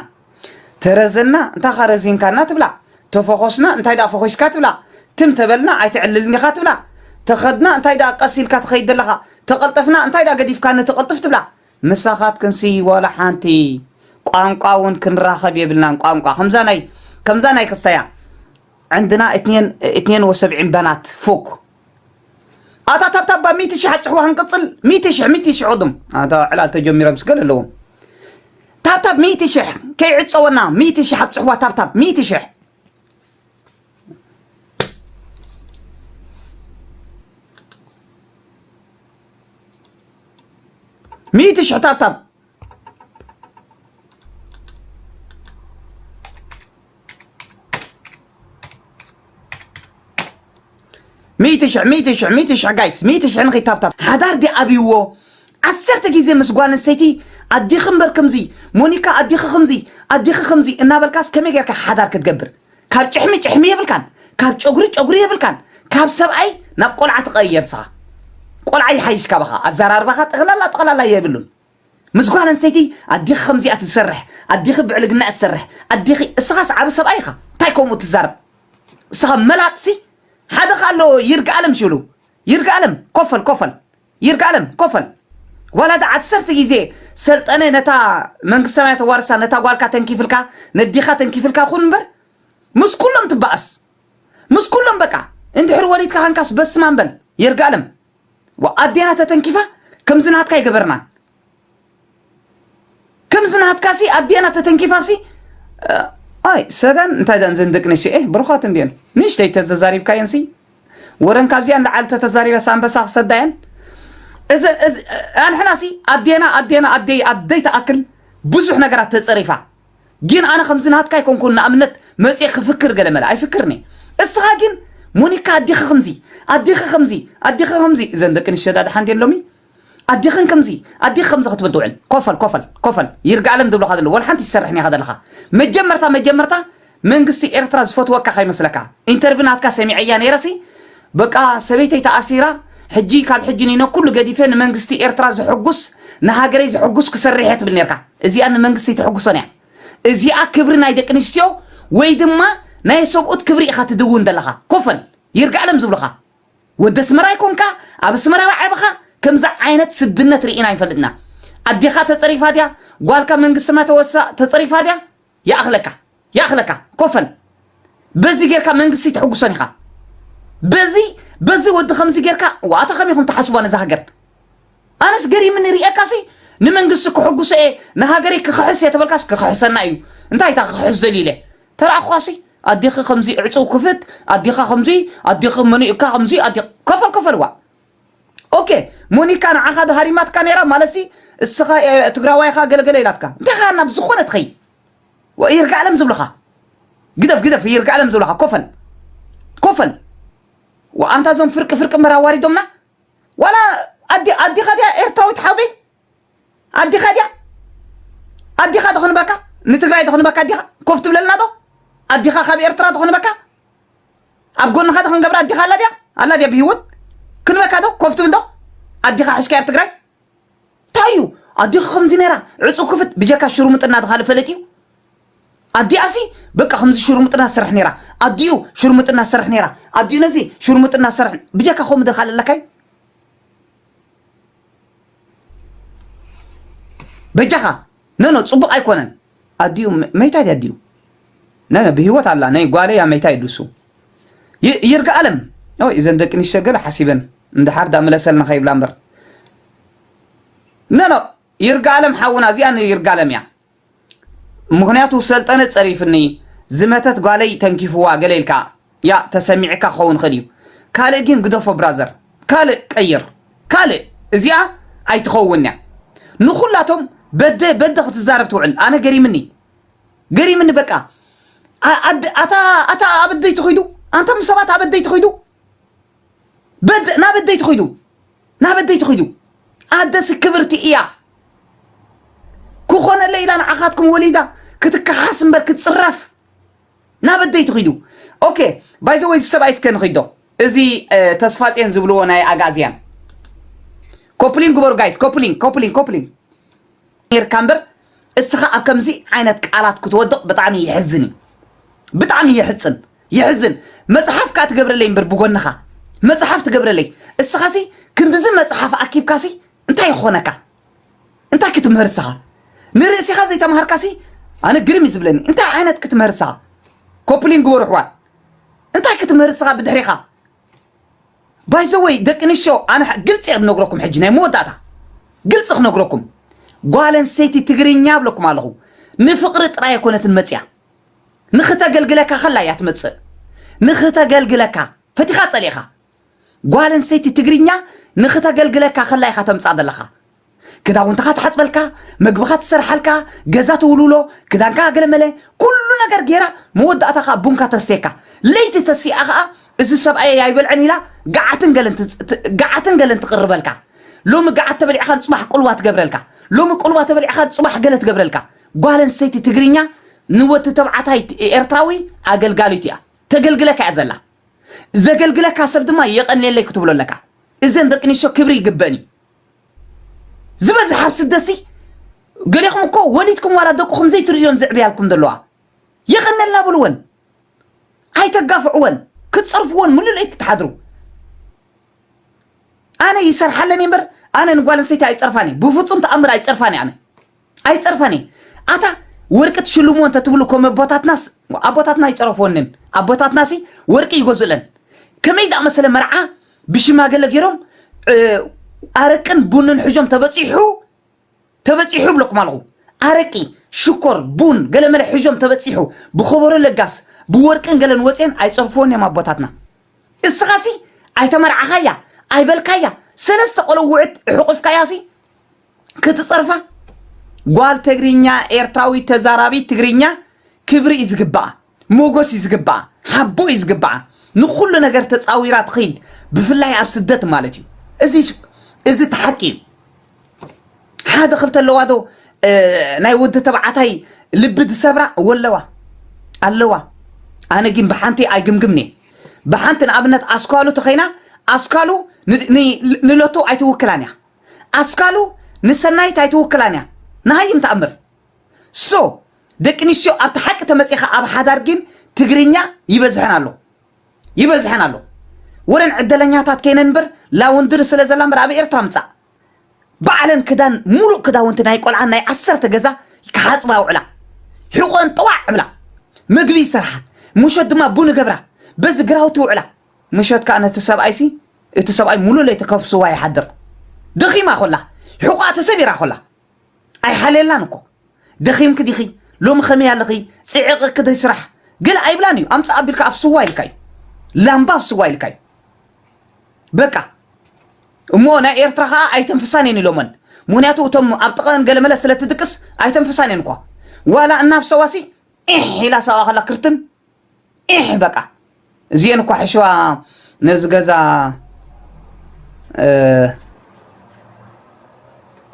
ተረዘና እንታይ እኻ ረዚንካና ትብላ፣ ተፎኾስና እንታይ ደኣ ፈኹስካ ትብላ፣ ትም ተበልና ኣይትዕልልን ኢኻ ትብላ፣ ተኸድና እንታይ ደኣ ቀስ ኢልካ ትኸይድ ዘለኻ፣ ተቐልጠፍና እንታይ ደኣ ገዲፍካኒ ትቕልጥፍ ትብላ። ምሳኻትክንሲ ዋላ ሓንቲ ቋንቋ እውን ክንራኸብ የብልናን፣ ቋንቋ ከምዛ ናይ ከምዛ ናይ ክስታያ ዕንድና ኢትኔን ኢትኔን ወሰብዒን በናት ፉክ። ኣታ ታብታብ ባ ሚእቲ ሽሕ ኣጭሕዋ ክንቅፅል ሚእቲ ሽሕ ሚእቲ ሽሕ ቅድም ኣታ ዕላል ተጀሚሮም ስገል ኣለዎም ታብታብ ሚእቲ ሽሕ ከይዕፀወና ሚእቲ ሽሕ ኣብፅሕዋ ታብታብ ሚእቲ ሽሕ ሚእቲ ሽሕ ታብታብ ሚእቲ ሽሕ ሚእቲ ሽሕ ሚእቲ ሽሕ ጋይስ ሚእቲ ሽሕ ንኸይ ታብታብ ሓዳር ዲ ኣብይዎ ዓሰርተ ግዜ ምስ ጓል ኣንስተይቲ ኣዲኺ እምበር ከምዚ ሞኒካ ኣዲኺ ከምዚ ኣዲኺ ከምዚ እናበልካስ ከመይ ጌርካ ሓዳር ክትገብር ካብ ጭሕሚ ጭሕሚ የብልካን ካብ ጨጉሪ ጨጉሪ የብልካን ካብ ሰብኣይ ናብ ቆልዓ ትቐየር ንስኻ ቆልዓ ይሓይሽ ካባኻ ኣዘራርባኻ ጠቕላላ ጠቕላላ የብሉን ምስ ጓል ኣንስተይቲ ኣዴኺ ከምዚኣ ትሰርሕ ኣዴኺ ብዕልግና እያ ትሰርሕ ኣዴኺ እስኻስ ዓቢ ሰብኣይ ኢኻ እንታይ ከምኡ ትዛረብ እስኻ መላጥሲ ሓደ ኸ ኣሎ ይርግኣለም ሽሉ ይርግኣለም ኮፈል ኮፈል ይርግኣለም ኮፈል ዋላ ዳ ዓሰርተ ግዜ ሰልጠነ ነታ መንግስተ ሰማያት ዋርሳ ነታ ጓልካ ተንኪፍልካ ነዴኻ ተንኪፍልካ ኩን እምበር ምስ ኩሎም ትባኣስ ምስ ኩሎም በቃ እንድሕር ወሊድካ ከንካስ በስማም በል ይርግኣለም ኣዴና ተተንኪፋ ከምዚ ናትካ ኣይገበርናን ከምዚ ናትካ ሲ ኣዴና ተተንኪፋ ሲ ኣይ ሰጋን እንታይ ዘን ዘን ደቂ ነሽኤ ብሩኻት እንዲየን ንእሽተይ ተዘዛሪብካየን ሲ ወረን ካብዚኣን ልዓሊ ተተዛሪበ ሳንበሳ ክሰዳየን እዚ ኣንሕና ሲ ኣዴና ኣዴና ኣደይ ኣደይ ተኣክል ብዙሕ ነገራት ተጸሪፋ ጊን ኣነ ከምዚ ናትካ ኣይኮንኩን ንኣብነት መጽየ ክፍክር ገለ መለ ኣይፍክርን እየ እስኻ ጊን ሞኒካ ኣዲኺ ከምዚ ኣዲኺ ከምዚ ኣዲኺ ከምዚ እዘን ደቂ ኣንስትዮ ዳኣ ደሓን ድየን ሎሚ ኣዲኽን ከምዚ ኣዲኺ ከምዚ ክትብድውዕን ኮፈል ኮፈል ኮፈል ይርጋኣለም ዝብሉኻ ዘለዉ ወላ ሓንቲ ኣይትሰርሕን ኢኻ ዘለኻ መጀመርታ መጀመርታ መንግስቲ ኤርትራ ዝፈትወካ ከይመስለካ ኢንተርቪው ናትካ ሰሚዐያ ነይረሲ በቃ ሰበይተይ ተኣሲራ ሕጂ ካብ ሕጂ ንይኖ ኩሉ ገዲፈ ንመንግስቲ ኤርትራ ዘሕጉስ ንሃገረይ ዘሕጉስ ክሰርሕ እየ ትብል ኔርካ እዚኣ ንመንግስቲ ኣይተሕጉሶን እያ እዚኣ ክብሪ ናይ ደቂ ኣንስትዮ ወይ ድማ ናይ ሰብኡት ክብሪ ኢኻ ትድውን ዘለኻ ኮፈል ይርጋኣለም ዝብሉኻ ወዲ ኣስመራ ኣይኮንካ ኣብ ኣስመራ ዝዓበኻ ከምዚ ዓይነት ስድነት ርኢና ኣይንፈልጥና ኣዴኻ ተጸሪፋ ድያ ጓልካ መንግስቲ ሰማይ ተወሳ ተጸሪፋ ድያ ይኣኽለካ ይኣኽለካ ኮፈን በዚ ጌርካ መንግስቲ ተሕጉሶን ኢኻ በዚ በዚ ወዲ ከምዚ ጌርካ ዋታ ከመይ ኢኹም ትሓስቧ ነዛ ሃገር ኣነስ ገሪምኒ ርኤካሲ ንመንግስቲ ክሕጉሶ እየ ንሃገረይ ክኽሕስ እየ ተበልካስ ክኽሕሰና እዩ እንታይ እታ ክኽሕስ ዘልዩ ኢለ ተረኣኹኻሲ ኣዴኺ ከምዚ ዕፅው ክፍት ኣዴኻ ከምዚ ኣዴኺ መኑ እካ ከምዚ ኣዴ ኮፈል ኮፈል ዋ ኦኬ ሞኒካ ንዓኻ ዶ ሃሪማትካ ነይራ ማለትሲ እስኻ እ- ትግራዋይ ኢኻ ገለገለ ኢላትካ እንታይ ኸኣ ናብ ዝኾነ ትኸይድ ወ- ይርጋዓለም ዝብልኻ ግደፍ ግደፍ ይርጋዓለም ዝብልኻ ኮፈል ኮፈል ወ- ኣንታ እዞም ፍርቂ ፍርቂ እምበር ኣዋሪዶምና ዋላ ኣዲ ኣዲኻ ድያ ኤርትራዊት ሓውበይ ኣዲኻ ድያ ኣዲኻ ተኽንበካ ንትግራይ ተኽንበካ ኣዲኻ ኮፍ ትብለልና ዶ ኣዲኻ ካብ ኤርትራ ተኽንበካ ኣብ ጎንኻ ተኽንገብራ ኣዲኻ ኣላ ድያ ኣላ ድያ ብሂወት ክንበካ ዶ ኮፍ ትብል ዶ ኣዲኻ ሕሽካ ኣብ ትግራይ እንታይ እዩ ኣዲኻ ከምዚ ነራ ዕፁ ክፍት ብጀካ ሽሩምጥና ተኻልእ ፈለጥ እዩ ኣዲኣሲ በቃ ከምዚ ሽሩምጥና ዝሰርሕ ነራ ኣዲኡ ሽሩምጥና ዝሰርሕ ነራ ኣዲኡ ነዚ ሽሩምጥና ዝሰርሕ ብጀካ ከምኡ ደኻል ኣለካይ በጃኻ ነኖ ፅቡቕ ኣይኮነን ኣዲኡ መይታ ድያ ኣዲኡ ነነ ብሂወት ኣላ ናይ ጓለይ ኣብ መይታ ይድሱ ይርጋ ኣለም ወይ እዘን ደቂ ንሽተ ገለ ሓሲበን እንድሓር ዳምለሰልና ከይብላ እምበር ነኖ ይርጋ ኣለም ሓውና እዚኣ ንይርጋ ኣለም እያ ምኽንያቱ ሰልጠነ ጸሪፍኒ፣ ዝመተት ጓለይ ተንኪፍዋ ገለ ኢልካ ያእ ተሰሚዕካ ክኸውን ይኽእል እዩ። ካልእ ግን ግደፎ ብራዘር ካልእ ቀይር ካልእ እዚኣ ኣይትኸውንን እያ። ንኹላቶም በደ በደ ክትዛረብ ትውዕል ኣነ ገሪምኒ ገሪምኒ በቃ ኣታ ኣታ ኣበደይ ትኺዱ ኣንታ ምስ ሰባት ኣበደይ ትኺዱ በደ ናብ ኣደይ ትኺዱ ናብ ኣደይ ትኺዱ ኣደሲ ክብርቲ እያ ክኾነለይ ኢላ ንዓኻትኩም ወሊዳ ክትከሓስ እምበር ክትፅረፍ ናብ ኣደይ ትኺዱ ኦኬ ባይዘ ወይ ዝሰብኣይ እስከ ንኺዶ እዚ እ፣ ተስፋጼን ዝብልዎ ናይ ኣጋእዝያን ኮፕሊን ግበሩ ጋይስ ኮፕሊን ኮፕሊን ኮፕሊን ኔርካ እምበር እስኻ ኣብ ከምዚ ዓይነት ቃላት ክትወድቕ ብጣዕሚ ይሕዝን እዩ ብጣዕሚ የሕፅን የሕዝን መጽሓፍ ከኣ ትገብረለይ እምበር ብጎንኻ መጽሓፍ ትገብረለይ እስኻሲ ክንድዚ መጽሓፍ ኣኪብካሲ እንታይ ክኾነካ እንታይ ክትምህር እስኻ ንርእሲኻ ዘይተማሃርካሲ ኣነ ግርም እዩ ዝብለኒ እንታይ ዓይነት ክትምህር እስኻ ኮፕሊን ግበሩ ኣሕዋት እንታይ ክትምህር እስኻ ብድሕሪኻ ባይዘወይ ደቂ ኣንስትዮ ኣነ ሐ- ግልፂ እየ ክነግረኩም ሕጂ ናይ መወዳእታ ግልፂ ክነግረኩም ጓል ኣንስተይቲ ትግርኛ ብለኩም ኣለኹ ንፍቕሪ ጥራይ ኣይኮነትን መፅያ ንኽተገልግለካ ከላ እያ ትመጽእ ንኽተገልግለካ ፈቲኻ ጸሊእኻ ጓል ኣንስተይቲ ትግርኛ ንኽተገልግለካ ከላ ኢኻ ተምጻእ ዘለኻ ክዳውንትኻ ትሓፅበልካ መግብኻ ትሰርሓልካ ገዛ ትውልውሎ ክዳንካ ገለመለ ኩሉ ነገር ጌራ መወዳእታ ከዓ ቡንካ ተስቴካ ለይቲ ተሲኣ ከዓ እዚ ሰብኣየ ኣይበልዕን ኢላ ገዓትን ገለን ትጽ- ት- ገዓትን ገለን ትቕርበልካ ሎሚ ገዓት ተበሊዕኻን ፅባሕ ቁልዋ ትገብረልካ ሎሚ ቁልዋ ተበሊዕኻን ፅባሕ ገለ ትገብረልካ ጓል ኣንስተይቲ ትግርኛ ንወዲ ተባዕታይ ኤርትራዊ ኣገልጋሊቱ እያ። ተገልግለካ እያ ዘላ። ዘገልግለካ ሰብ ድማ የቐንየለይ ክትብሎ ኣለካ። እዘን ደቂ ኣንስትዮ ክብሪ ይግበን እዩ። ዝበዝሕ ኣብ ስደሲ ገሌኹም እኮ ወሊድኩም ዋላ ደቅኹም ዘይትርእዮን ዘዕብያልኩም ዘለዋ የቐነልና ብልወን ኣይተጋፍዕወን ክትፀርፍዎን ምልለይ ክትሓድሩ ኣነ ይሰርሓለኒ እምበር ኣነ ንጓል ኣንስተይቲ ኣይፀርፋን እየ ብፍፁም ተኣምር ኣይፀርፋን እየ ኣነ ኣይጸርፋን እየ ኣታ ወርቂ ትሽልምዎ እንተ ትብሉ ከም ኣቦታትናስ ኣቦታትና ይጸረፍወንን ኣቦታትናሲ ወርቂ ይገዝኡለን ከመይ ዝኣመሰለ መርዓ ብሽማገለ ገይሮም እ፣ ኣረቅን ቡንን ሕዞም ተበጺሑ ተበጺሑ ብለኩም ኣለኹ ኣረቂ ሽኮር ቡን ገለመለ ሕዞም ተበጺሑ ብኸበሮ ለጋስ ብወርቅን ገለን ወፅየን ኣይጸርፍዎን እዮም ኣቦታትና እስኻሲ ኣይተመርዓኻያ ኣይበልካያ ሰለስተ ቆልውዕት ሕቑፍካያሲ ክትፀርፋ ጓል ትግርኛ ኤርትራዊት ተዛራቢት ትግርኛ ክብሪ እዩ ዝግባኣ ሞጎስ እዩ ዝግባኣ ሓቦ እዩ ዝግባኣ ንኩሉ ነገር ተፃዊራ ትኽይድ ብፍላይ ኣብ ስደት ማለት እዩ እዚ እዚ እቲ ሓቂ እዩ ሓደ ክልተ ኣለዋ ዶ እ፣ ናይ ወዲ ተባዕታይ ልቢ ዝሰብራ ወለዋ ኣለዋ ኣነ ግን ብሓንቲ ኣይግምግምኒ ብሓንቲ ንኣብነት ኣስኳሉ ተኸይና ኣስኳሉ ን- ን- ንለቶ ኣይትውክላን እያ ኣስካሉ ንሰናይት ኣይትውክላን እያ ንሃይም ተኣምር so ደቂ ንስትዮ ኣብቲ ሓቂ ተመጺኻ ኣብ ሓዳር ጊን ትግርኛ ይበዝሐን ኣሎ ይበዝሐን ኣሎ ወረን ዕደለኛታት ከይነን እምበር ላውንድሪ ስለ ዘላ እምበር ኣብ ኤርትራ ምጻእ ባዕለን ክዳን ሙሉእ ክዳውንቲ ናይ ቆልዓን ናይ ዓሰርተ ገዛ ክሓጽባ ውዕላ ሕቆን ጠዋዕ ዕብላ መግቢ ይሰርሓ ምሸት ድማ ቡን ገብራ በዚ ግራውቲ ውዕላ ምሸት ከኣ ነቲ ሰብኣይሲ እቲ ሰብኣይ ሙሉእ ለይቲ ከፍስዋ ይሓድር ደኺማ ኮላ ሕቖኣ ተሰቢራ ኮላ ኣይሓልየላን እኮ ደኺምኪ ዲኺ ሎሚ ከመይ ኣለኺ ጽዕቕኪ ዶ ስራሕ ገለ ኣይብላን እዩ ኣምጽእ ኣቢልካ ኣፍስዋ ኢልካ እዩ ላምባ ኣፍስዋ ኢልካ እዩ በቃ እሞ ናይ ኤርትራ ከዓ ኣይተንፍሳን እየን ኢሎመን ምክንያቱ እቶም ኣብ ጥቐን ገለመለ ስለ ትድቅስ ኣይተንፍሳን እየን እኳ ዋላ እናፍሰዋሲ ዒሕ ኢላ ሰብኣ ከላ ክርትን ዒሕ በቃ እዚኤን እኳ ሕሸዋ ነዚ ገዛ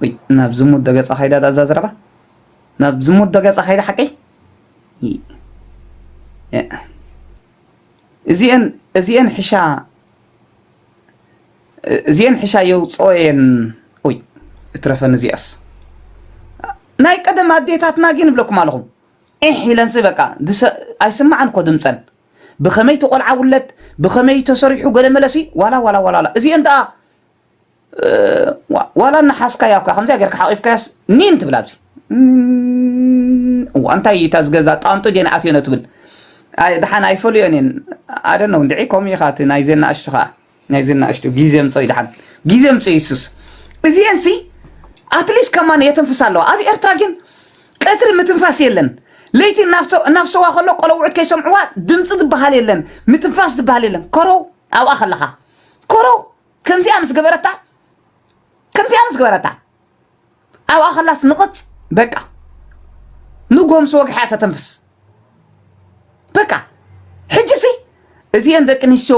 ወይ ናብ ዝሙት ዶ ገጻ ከይዳ ዳዛ ዝረባ ናብ ዝሙት ዶ ገጻ ከይዳ ሓቀይ እዚኤን እዚኤን ሕሻ እዚኤን ሕሻ የውፅኦ እየን ወይ እትረፈን እዚኣስ ናይ ቀደም ኣዴታትና ግን ይብለኩም ኣለኹም ዒሕ ኢለንሲ በቃ ኣይስማዕን እኮ ድምጸን ብከመይ እቲ ቆልዓ ውለድ ብከመይ እዩ ተሰሪሑ ገለመለሲ ዋላ ዋላ ዋላ ዋላ እዚኤን ደኣ ዋላ እናሓስካያ እኳ ከምዚያ ጌርካ ሓቂፍካያስ ኒን ትብል ኣብዚ እዋ እንታይ እዩ እታ ዝገዛ ጣንጡ ጌና ኣትዮነ ትብል ድሓን ኣይፈልዮን እየን ኣደነው እንድዒ ከምኡ ኢኻ እቲ ናይዘን ናእሽቱ ከዓ ናይዘን ናእሽቱ ግዜ ኣምፀኦይ ደሓን ግዜ ኣምፀኦይ ሱስ እዚኤን ሲ ኣትሊስት ከማን የተንፍሳ ኣለዋ ኣብ ኤርትራ ግን ቀትሪ ምትንፋስ የለን ለይቲ እናፍሰዋ ከሎ ቆለውዑት ከይሰምዕዋ ድምፂ ዝበሃል የለን ምትንፋስ ዝበሃል የለን ኮረው ኣብኣ ከለኻ ኮረው ከምዚኣ ምስ ገበረታ ከምዚኣ ምስ ገበረታ ኣብኣ ከላስ ንቕፅ በቃ ንጎምሲ ወግሓ ተተንፍስ በቃ ሕጂ ሲ እዚኤን ደቂ ኣንስትዮ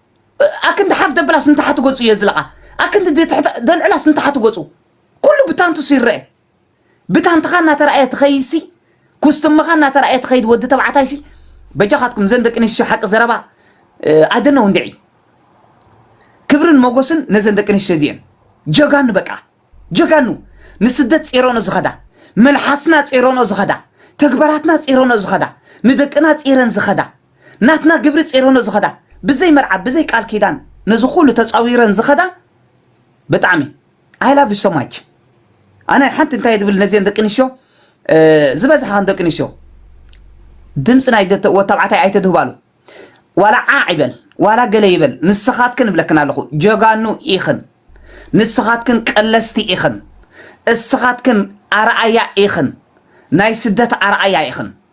ኣክንዲ ሓፍ ደብላስ ንታሕቲ ገጹ የዝልቓ ኣክንዲ ደልዕላስ ንታሕቲ ገጹ ኩሉ ብታንቱስ ይረአ ብታንትኻ እናተረኣየ ትኸይሲ ኩስትምኻ እናተረኣየ ትኸይድ ወዲ ተባዕታይሲ በጃኻትኩም ዘን ደቂ ኣንስትዮ ሓቂ ዘረባ ኣደነው እንድዒ ክብርን ሞጎስን ነዘን ደቂ ኣንስትዮ እዚኤን ጀጋኑ በቃ ጀጋኑ ንስደት ፂረኖ ዝኸዳ መልሓስና ፂረኖ ዝኸዳ ተግባራትና ፂረኖ ዝኸዳ ንደቅና ፂረን ዝኸዳ ናትና ግብሪ ጼሮኖ ዝኸዳ ብዘይ መርዓ ብዘይ ቃል ኪዳን ነዚ ኩሉ ተጻዊረን ዝኸዳ ብጣዕሚ I love you so much ኣነ ሓንቲ እንታይ ዝብል ነዚን ደቂ ኣንስትዮ ዝበዝሓ ከም ደቂ ኣንስትዮ ድምፂ ናይ ወታብዓታይ ኣይተድህባሉ ዋላ ዓዕ ይበል ዋላ ገለ ይበል ንስኻትክን እብለክን ኣለኹ ጀጋኑ ኢኽን ንስኻትክን ቀለስቲ ኢኽን እስኻትክን ኣርኣያ ኢኽን ናይ ስደት ኣርኣያ ኢኽን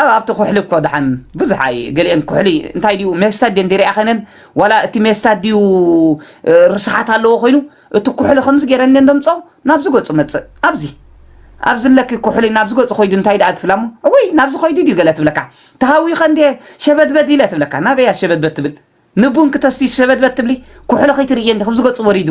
ኣብ ኣብቲ ኩሕሊ እኮ ደሓን ብዙሕ ኣይ ገሊኤን ኩሕሊ እንታይ ድዩ ሜስታ ድየን ዲሪኣኸነን ዋላ እቲ ሜስታ ድዩ ርስሓት ኣለዎ ኮይኑ እቲ ኩሕሊ ከምዚ ገይረን እንዲየን ደምጾ ናብዚ ገጹ መጽእ ኣብዚ ኣብዚ ኣለኪ ኩሕሊ ናብዚ ገጹ ኮይዱ እንታይ ደኣ ትብላ እሞ እወይ ናብዚ ኮይዱ ድዩ ገለ ትብለካ ተሃዊኸ እንዲየ ሸበድበድ ኢለ ትብለካ ናበያ ሸበድበድ ትብል ንቡን ክተስቲ ሸበድበድ ትብሊ ኩሕሊ ከይትርእየ እንዲ ከምዚ ገጹ ወሪዱ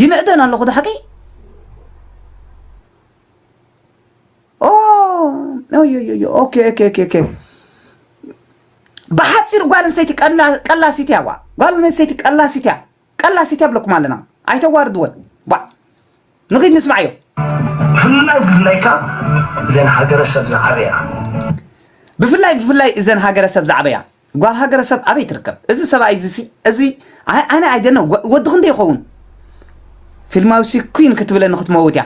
ይንእደን ኣለኹ ዳሓቂ ብሓፂር ጓል ኣንስተይቲ ቀላሲት እያ ጓል ኣንስተይቲ ቀላሲት እያ ቀላሲት እያ ብለኩም ኣለና ኣይተዋርድወን ባ ንኺድ ንስማዕዮ ብፍላይ ብፍላይ ካብ እዘን ሃገረሰብ ዝዓበያ ብፍላይ ብፍላይ እዘን ሃገረሰብ ዝዓበያ ጓል ሃገረሰብ ኣበይ ትርከብ እዚ ሰብኣይ እዚ ሲ እዚ ኣይ ኣነ ኣይደነ ወዲ ክንደይ ይኸውን ፊልማዊ ሲ ኩን ክትብለኒ ክትመውት እያ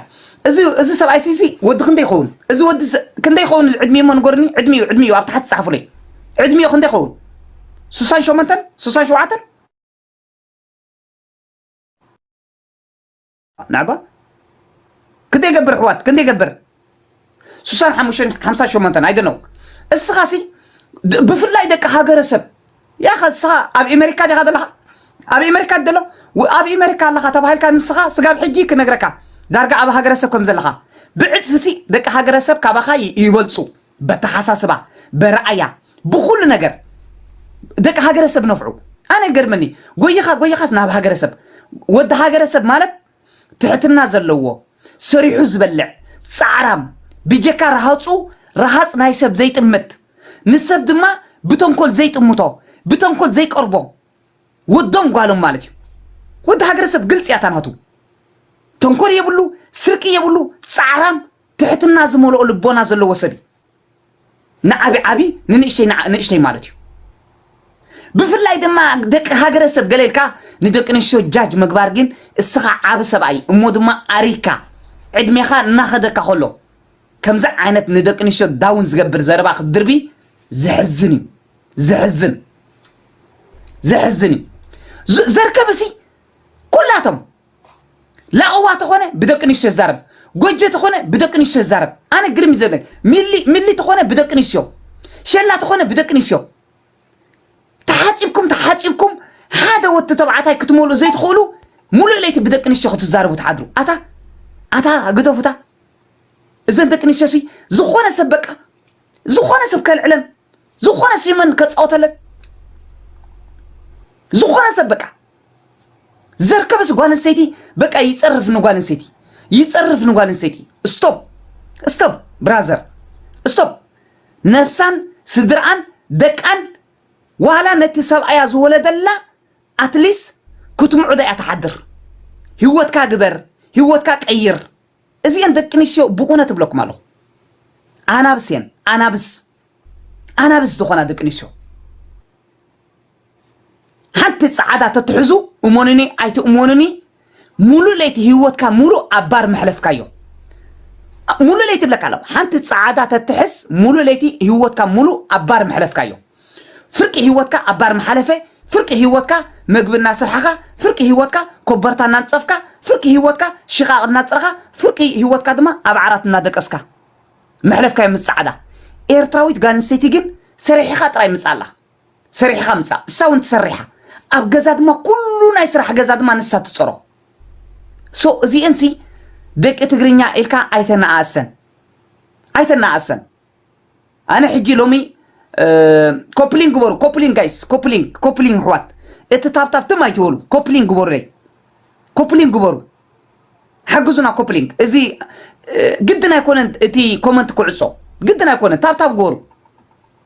እዚ እዚ ሰብኣይ ሲ ሲ ወዲ ክንደይ ይኸውን እዚ ወዲ ሰ- ክንደይ ይኸውን እዚ ዕድሜ እሞ ንገሩኒ ዕድሜኡ ዕድሜኡ ኣብ ታሕቲ ጻሓፉለይ ዕድሜኡ ክንደይ ይኸውን ሱሳን ሸሞንተን ሱሳን ሸውዓተን ናዕባ ክንደይ ይገብር ኣሕዋት ክንደይ ይገብር ስሳን ሓሙሽተን ሓምሳ ሸሞንተን ኣይደነው እስኻ ሲ ብፍላይ ደቂ ሃገረሰብ ያኸ እስኻ ኣብ ኤሜሪካ ዲኻ ዘለኻ ኣብ ኤሜሪካ ደሎ ኣብ ኤሜሪካ ኣለኻ ተባሂልካ ንስኻ ስጋብ ሕጂ ክነግረካ ዳርጋ ኣብ ሃገረሰብ ከም ዘለኻ ብዕፅፊ ሲ ደቂ ሃገረሰብ ካባኻ ይበልፁ በተሓሳስባ በረኣያ ብኹሉ ነገር ደቂ ሃገረሰብ ነፍዑ ኣነ ይገርመኒ ጎይኻ ጎይኻስ ናብ ሃገረሰብ ወዲ ሃገረሰብ ማለት ትሕትና ዘለዎ ሰሪሑ ዝበልዕ ጻዕራም ብጀካ ረሃጹ ረሃጽ ናይ ሰብ ዘይጥምት ንሰብ ድማ ብተንኮል ዘይጥምቶ ብተንኮል ዘይቀርቦ ወዶም ጓሎም ማለት እዩ ወዲ ሃገረሰብ ግልጽ እያ ታናቱ ተንኮል የብሉ ስርቂ የብሉ ጻዕራም ትሕትና ዝመልኦ ልቦና ዘለዎ ሰብ እዩ። ንዓቢ ዓቢ ንንእሽተይ ንዓ- ንእሽተይ ማለት እዩ። ብፍላይ ድማ ደቂ ሃገረሰብ ገለ ኢልካ ንደቂ ኣንስትዮ ጃጅ ምግባር ግን እስኻ ዓቢ ሰብኣይ እሞ ድማ ኣሪግካ ዕድሜኻ እናኸደካ ከሎ ከምዚ ዓይነት ንደቂ ኣንስትዮ ዳውን ዝገብር ዘረባ ክትድርቢ ዘሕዝን እዩ። ዘሕዝን ዘሕዝን እዩ። ዝ- ዘርከብሲ ኩላቶም ላቕዋ ተኾነ ብደቂ ኣንስትዮ ይዛረብ ጎጆ ተኾነ ብደቂ ኣንስትዮ ይዛረብ ኣነ ግርም እዩ ዘበል ሚሊ ሚሊ ተኾነ ብደቂ ኣንስትዮ ሸላ ተኾነ ብደቂ ኣንስትዮ ተሓፂብኩም ተሓፂብኩም ሓደ ወዲ ተባዕታይ ክትመልኡ ዘይትኽእሉ ሙሉእ ለይቲ ብደቂ ኣንስትዮ ክትዛረቡ ትሓድሩ ኣታ ኣታ ግደፉታ እዘን ደቂ ኣንስትዮ ሲ ዝኾነ ሰብ በቃ ዝኾነ ሰብ ከልዕለን ዝኾነ ሲመን ከፃወተለን ዝኾነ ሰብ በቃ ዘርከበስ ጓል ኣንስተይቲ በቃ ይጸርፍ ንጓል ኣንስተይቲ ይጸርፍ ንጓል ኣንስተይቲ ስቶፕ ስቶፕ ብራዘር ስቶፕ ነፍሳን ስድርኣን ደቃን ዋላ ነቲ ሰብኣያ ዝወለደላ ኣትሊስ ክትምዑዳ እያ ትሓድር ህይወትካ ግበር ህይወትካ ቀይር እዚአን ደቂ ኣንስትዮ ብእውነት እብለኩም ኣለኹ ኣናብስ እየን ኣናብስ ኣናብስ ዝኾና ደቂ ኣንስትዮ ሓንቲ ጸዓዳ ተትሕዙ እሞንኒ ኣይትእሞንኒ ሙሉእ ለይቲ ህይወትካ ሙሉእ ኣብ ባር መሕለፍካዮ ሙሉእ ለይቲ ብለካ ኣለኹ ሓንቲ ጸዓዳ ተትሕዝ ሙሉእ ለይቲ ህይወትካ ሙሉእ ኣብ ባር መሕለፍካዮ ፍርቂ ህይወትካ ኣብ ባር መሓለፈ ፍርቂ ህይወትካ መግቢ እናስርሓኻ ፍርቂ ህይወትካ ኮበርታ እናንጸፍካ ፍርቂ ህይወትካ ሽቓቕ እናጽረኻ ፍርቂ ህይወትካ ድማ ኣብ ዓራት እናደቀስካ መሕለፍካዮ ምስ ጸዓዳ ኤርትራዊት ጋል ኣንስተይቲ ግን ሰሪሒኻ ጥራይ ምጻ ኣላ ሰሪሕኻ ምጻእ እሳ ውን ትሰርሓ ኣብ ገዛ ድማ ኩሉ ናይ ስራሕ ገዛ ድማ ንሳ ትጽሮ ሶ እዚኤን ሲ ደቂ ትግርኛ ኢልካ ኣይተነኣእሰን ኣይተነኣእሰን ኣነ ሕጂ ሎሚ ኮፕሊንግ ግበሩ ኮፕሊንግ ጋይስ ኮፕሊንግ ኮፕሊንግ ኣሕዋት እቲ ታብታብ ትም ኣይትበሉ ኮፕሊንግ ግበሩለይ ኮፕሊንግ ግበሩ ሓግዙና ኮፕሊንግ እዚ ግድን ኣይኮነን እቲ ኮመንት ክዕጾ ግድን ኣይኮነን ታብታብ ግበሩ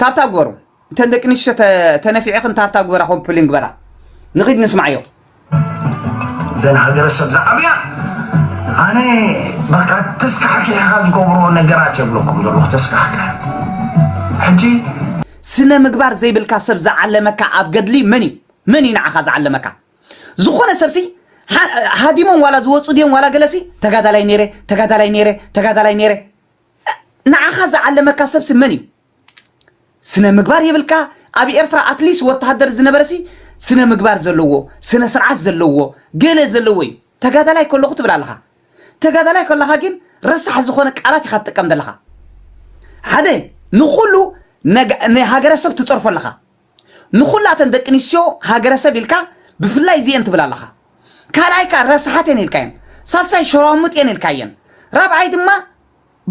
ታብታ ግበሩ እተን ደቂ ንሽቶ ተነፊዕኽን ታብታ ግበራ ኮምፕሊን ግበራ ንኺድ ንስማዕዮ ዘን ሃገረሰብ ዝዓብያ ኣነ በቃ ተስካሕኪሕኻ ዝገብሮ ነገራት የብለኩም ዘለኹ ተስካሕክሕ ሕጂ ስነ ምግባር ዘይብልካ ሰብ ዝዓለመካ ኣብ ገድሊ መን እዩ መን እዩ ንዓኻ ዝዓለመካ ዝኾነ ሰብሲ ሃዲሞም ዋላ ዝወፁ ድዮም ዋላ ገለሲ ተጋዳላይ ነይረ ተጋዳላይ ነይረ ተጋዳላይ ነይረ ንዓኻ ዝዓለመካ ሰብሲ መን እዩ? ስነ ምግባር የብልካ ኣብ ኤርትራ ኣትሊስ ወተሃደር ዝነበረሲ ስነ ምግባር ዘለዎ ስነ ስርዓት ዘለዎ ገለ ዘለዎ እዩ ተጋዳላይ ከለኹ ትብል ኣለኻ ተጋዳላይ ከለኻ ግን ረሳሕ ዝኾነ ቃላት ኢኻ ትጥቀም ዘለኻ ሓደ ንኹሉ ንሃገረሰብ ትጸርፎ ኣለኻ ንኹላተን ደቂ ኣንስትዮ ሃገረሰብ ኢልካ ብፍላይ እዚኤን ትብል ኣለኻ ካልኣይ ከኣ ረስሓት እየን ኢልካየን ሳልሳይ ሸራሙጥ እየን ኢልካየን ራብዓይ ድማ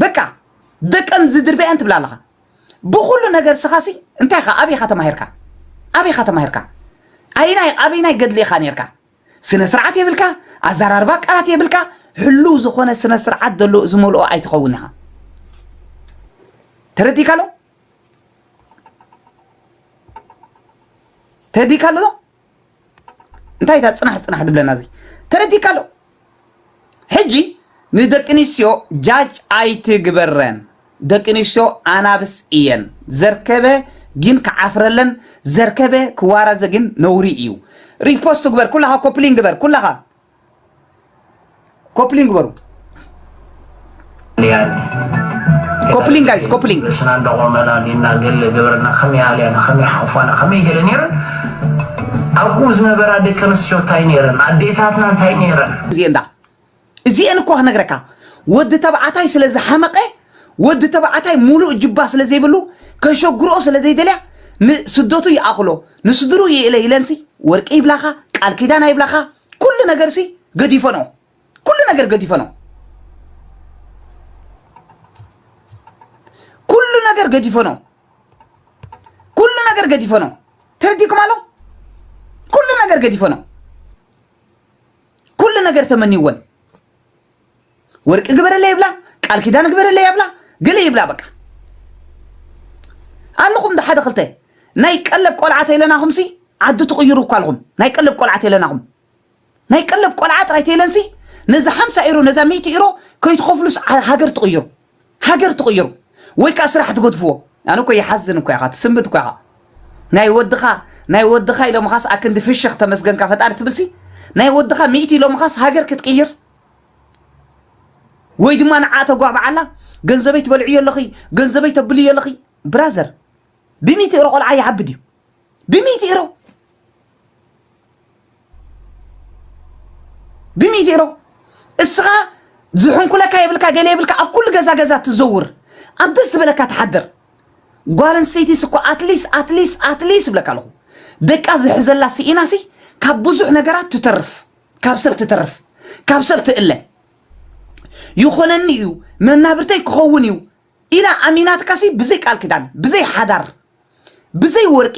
በቃ ደቀን ዝድርብያ እየን ትብል ኣለኻ ብኹሉ ነገር ስኻሲ እንታይ ኢኻ ኣበይ ኢኻ ተማሂርካ ኣበይ ኢኻ ተማሂርካ ኣይናይ ኣበይናይ ገድሊ ኢኻ ነርካ ስነ ስርዓት የብልካ ኣዘራርባ ቃላት የብልካ ሕሉው ዝኾነ ስነ ስርዓት ዘሎ ዝመልኦ ኣይትኸውን ኢኻ ተረዲእካሎ ተረዲእካ ኣሎ ዶ እንታይ እታ ፅናሕ ፅናሕ ትብለና እዚ ተረዲእካ ኣሎ ሕጂ ንደቂ ኣንስትዮ ጃጅ ኣይትግበረን ደቂ ኣንስትዮ ኣናብስ እየን ዘርከበ ግን ክዓፍረለን ዘርከበ ክዋረዘ ግን ነውሪ እዩ ሪፖስት ግበር ኩላኻ ኮፕሊን ግበር ኩላኻ ኮፕሊንግ በሩ ኮፕሊንግ ጋይስ ኮፕሊንግ ንስና እንዳቆመና ዲና ገለ ገበርና ከመይ ኣልያና ከመይ ሓቁፋና ከመይ ገለ ነይረን ኣብኡ ዝነበራ ደቂ ኣንስትዮ እንታይ ነይረን ኣዴታትና እንታይ ነይረን እዚኤን ዳ እዚኤን እኮ ክነግረካ ወዲ ተባዕታይ ስለ ዝሓመቐ ወዲ ተባዕታይ ሙሉእ ጅባ ስለ ዘይብሉ ከሸጉርኦ ስለ ዘይደልያ ንስደቱ ይኣኽሎ ንስድርኡ ይእለ ኢለንሲ ወርቂ ይብላኻ ቃል ኪዳን ኣይብላኻ ኩሉ ነገርሲ ገዲፎ ነው ኩሉ ነገር ገዲፎ ነው ኩሉ ነገር ገዲፎ ነው ኩሉ ነገር ገዲፎ ነው ተረዲኩም ኣሎ ኩሉ ነገር ገዲፎ ነው ኩሉ ነገር ተመንይወን ወርቂ ግበረለይ ይብላ ቃል ኪዳን ግበረለይ ይብላ ግል ይብላ በቃ ኣለኹም ዶ ሓደ ክልተ ናይ ቀለብ ቆልዓ ተይለናኹም ሲ ዓዲ ትቕይሩ እኳ ኣለኹም ናይ ቀለብ ቆልዓ ተይለናኹም ናይ ቀለብ ቆልዓ ጥራይ ተይለንሲ ነዚ ሓምሳ ኢሮ ነዛ ሚእቲ ኢሮ ከይትኸፍሉስ ሃገር ትቕይሩ ሃገር ትቕይሩ ወይ ከኣ ስራሕ ትገድፍዎ ኣነ እኮ ይሓዝን እኮ ኢኻ ትስንብድ እኮ ኢኻ ናይ ወድኻ ናይ ወድኻ ኢሎምኻስ ኣክንዲ ፍሽኽ ተመስገንካ ፈጣሪ ትብልሲ ናይ ወድኻ ሚእቲ ኢሎምኻስ ሃገር ክትቅይር ወይ ድማ ንዓ ተጓብዓላ ገንዘበይ ትበልዕዮ ኣለኺ ገንዘበይ ተብልዮ ኣለኺ ብራዘር ብሚእቲ እሮ ቆልዓ ይዓብድ እዩ ብሚእቲ እሮ ብሚዜሮ እስኻ ዝሕንኩለካ የብልካ ገለ የብልካ ኣብ ኩሉ ገዛ ገዛ ትዘውር ኣብ ደስ ዝበለካ ትሓድር ጓል ኣንስተይቲስ እኮ ኣትሊስ ኣትሊስ ኣትሊስ ይብለካ ኣለኹ ደቃ ዝሕዘላ ስኢናሲ ካብ ብዙሕ ነገራት ትተርፍ ካብ ሰብ ትተርፍ ካብ ሰብ ትእለ ይኾነኒ እዩ መናብርተይ ክኸውን እዩ ኢላ ኣሚናትካሲ ብዘይ ቃል ኪዳን ብዘይ ሓዳር ብዘይ ወርቂ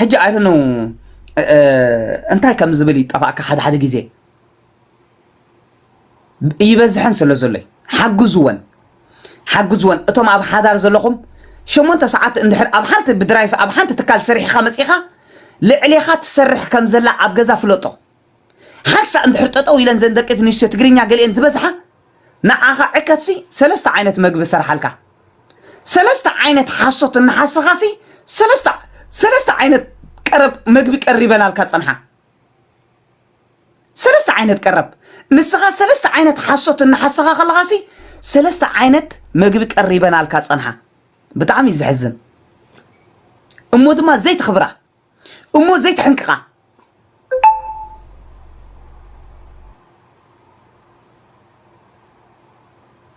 ሕጂ ኣይ ዶንት ኖው እንታይ ከም ዝብል ይጠፋእካ ሓደ ሓደ ግዜ ይበዝሐን ስለ ዘሎ እዩ። ሓግዝወን ሓግዝወን እቶም ኣብ ሓዳር ዘለኹም ሸሞንተ ሰዓት እንድሕር ኣብ ሓንቲ ብድራይፍ ኣብ ሓንቲ ትካል ሰሪሕኻ መጺኻ ልዕሌኻ ትሰርሕ ከም ዘላ ኣብ ገዛ ፍለጦ ሓንሳእ እንድሕር ጠጠው ኢለን ዘን ደቂ ትንስትዮ ትግርኛ ገሊኤን ዝበዝሓ ንዓኻ ዕከትሲ ሰለስተ ዓይነት መግቢ ሰርሓልካ ሰለስተ ዓይነት ሓሶት እናሓሰኻሲ ሰለስተ ሰለስተ ዓይነት ቀረብ መግቢ ቀሪበናልካ ጸንሓ ሰለስተ ዓይነት ቀረብ ንስኻ ሰለስተ ዓይነት ሓሶት እናሓሰኻ ከለኻሲ ሰለስተ ዓይነት መግቢ ቀሪበናልካ ጸንሓ ብጣዕሚ እዩ ዘሕዝን እሞ ድማ ዘይትኽብራ እሞ ዘይትሕንቅቃ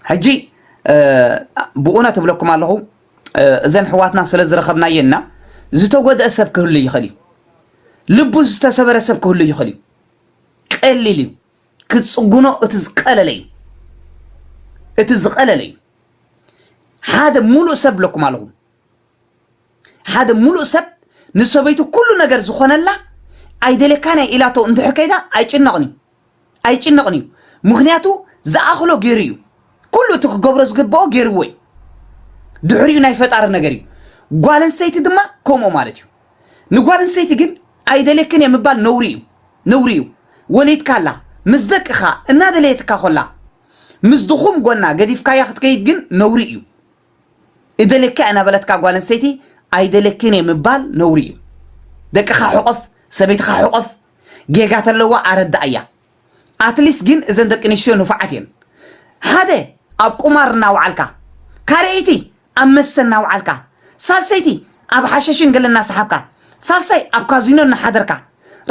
ሕጂ ብኡነ ትብለኩም ኣለኹ እዘን ሕዋትና ስለ ዝረኸብናየና ዝተጎድአ ሰብ ክህሉ ይኽእል እዩ ልቡ ዝተሰበረ ሰብ ክህሉ ይኽእል እዩ ቀሊል እዩ ክፅጉኖ እቲ ዝቀለለ እዩ እቲ ዝቀለለ እዩ ሓደ ሙሉእ ሰብ ብለኩም ኣለኹ ሓደ ሙሉእ ሰብ ንሰበይቱ ኩሉ ነገር ዝኾነላ ኣይደልየካን እየ ኢላቶ እንድሕር ከይዳ ኣይጭነቕን እዩ ኣይጭነቕን እዩ ምክንያቱ ዝኣኽሎ ገይሩ እዩ ኩሉ እቲ ክገብሮ ዝግብኦ ገይርዎ እዩ ድሕሪኡ ናይ ፈጣሪ ነገር እዩ ጓል ኣንስተይቲ ድማ ከምኡ ማለት እዩ ንጓል ኣንስተይቲ ግን ኣይደልየክን እየ ምባል ነውሪ እዩ ነውሪ እዩ ወሊድካ ኣላ ምስ ደቅኻ እናደለየትካ ኮላ ምስ ድኹም ጎና ገዲፍካያ ክትከይድ ግን ነውሪ እዩ እደልየካ እናበለትካ ጓል ኣንስተይቲ ኣይደልየክን እየ ምባል ነውሪ እዩ። ደቅኻ ሕቆፍ፣ ሰበይትኻ ሕቆፍ፣ ጌጋ ተለዋ ኣረድኣያ። ኣትሊስት ግን እዘን ደቂ ኣንስትዮ ንፉዓት እየን። ሓደ ኣብ ቁማር እናወዓልካ፣ ካልኣይቲ ኣብ መስተ እናወዓልካ፣ ሳልሰይቲ ኣብ ሓሸሽን ገለ እናሰሓብካ፣ ሳልሳይ ኣብ ካዚኖ እናሓደርካ፣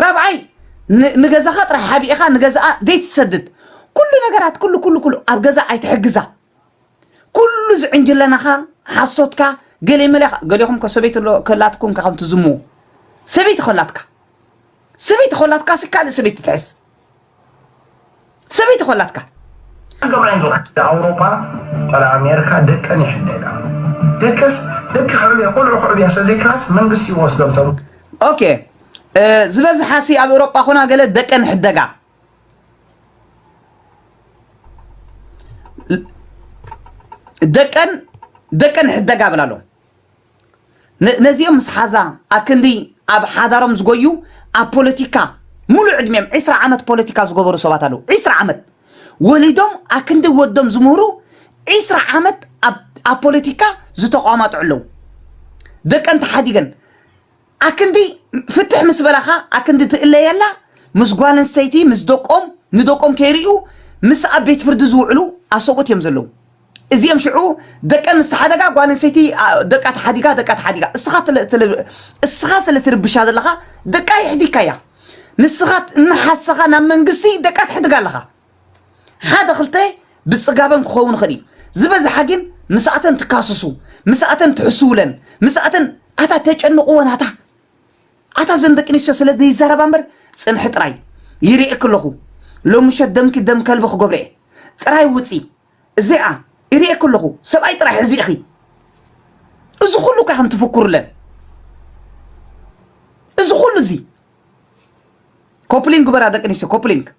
ራብዓይ ን- ንገዛኻ ጥራይ ሓቢእኻ ንገዛኣ ዘይትሰድድ ኩሉ ነገራት ኩሉ ኩሉ ኩሉ ኣብ ገዛ ኣይትሕግዛ። ኩሉ እዚ ዕንጅለናኻ ሓሶትካ ገሌ መለ ገሌኹም ከ ሰበይቲ ከላትኩም ከ ከም ትዝሙ ሰበይቲ ከላትካ ሰበይቲ ከላትካ ሲ ካልእ ሰበይቲ ትሕዝ ሰበይቲ ከላትካ ኣውሮፓ ቆል ኣሜሪካ ደቀን ይሕደጋ ደቀስ ደቂ ክዕብያ ቆልዑ ክዕብያ ስለዘይክላስ መንግስቲ ይወስዶም ቶም ኦኬ ዝበዝሓ ሲ ኣብ ኤውሮጳ ኮና ገለ ደቀን ይሕደጋ ደቀን ደቀን ሕደጋ እብል ኣሎ ነዚኦም ምስ ሓዛ ኣክንዲ ኣብ ሓዳሮም ዝጎዩ ኣብ ፖለቲካ ሙሉእ ዕድሜም ዕስራ ዓመት ፖለቲካ ዝገበሩ ሰባት ኣለዉ ዕስራ ዓመት ወሊዶም ኣክንዲ ወዶም ዝምህሩ ዕስራ ዓመት ኣብ ፖለቲካ ዝተቋማጡ ኣለዉ ደቀን ተሓዲገን ኣክንዲ ፍትሕ ምስ በላካ ኣክንዲ ትእለየላ ምስ ጓል ኣንስተይቲ ምስ ደቆም ንደቆም ከይርእዩ ምስ ኣብ ቤት ፍርዲ ዝውዕሉ ኣሰብኡት እዮም ዘለዉ እዚኦም ሽዑ ደቀን ምስ ተሓደጋ ጓል ኣንስተይቲ ኣ፣ ደቃ ተሓዲጋ ደቃ ተሓዲጋ እስኻ ትለ- ትለ- እስኻ ስለ ትርብሻ ዘለኻ ደቃ ይሕዲካያ ንስኻ እናሓሰኻ ናብ መንግስቲ ደቃ ትሕድጋ ኣለኻ ሓደ ክልተ ብጽጋበን ክኸውን ይኽእል እዩ ዝበዝሓ ግን ምስኣተን ትካስሱ ምስኣተን ትሕስውለን ምስኣተን ኣታ ተጨንቕወን ኣታ ኣታ ዘን ደቂ ኣንስትዮ ስለ ዘይዛረባ እምበር ፅንሒ ጥራይ ይርኤክ ኣለኹ ሎሚ ምሸት ደምኪ ደም ከልቢ ክገብረ እየ ጥራይ ውፂ እዚኣ ይርኤክ ኣለኹ ሰብኣይ ጥራይ ሕዚ ኢኺ እዚ ኩሉ እኳ ከም ትፍክሩለን እዚ ኩሉ እዚ ኮፕሊንግ ግበራ ደቂ ኣንስትዮ ኮፕሊንግ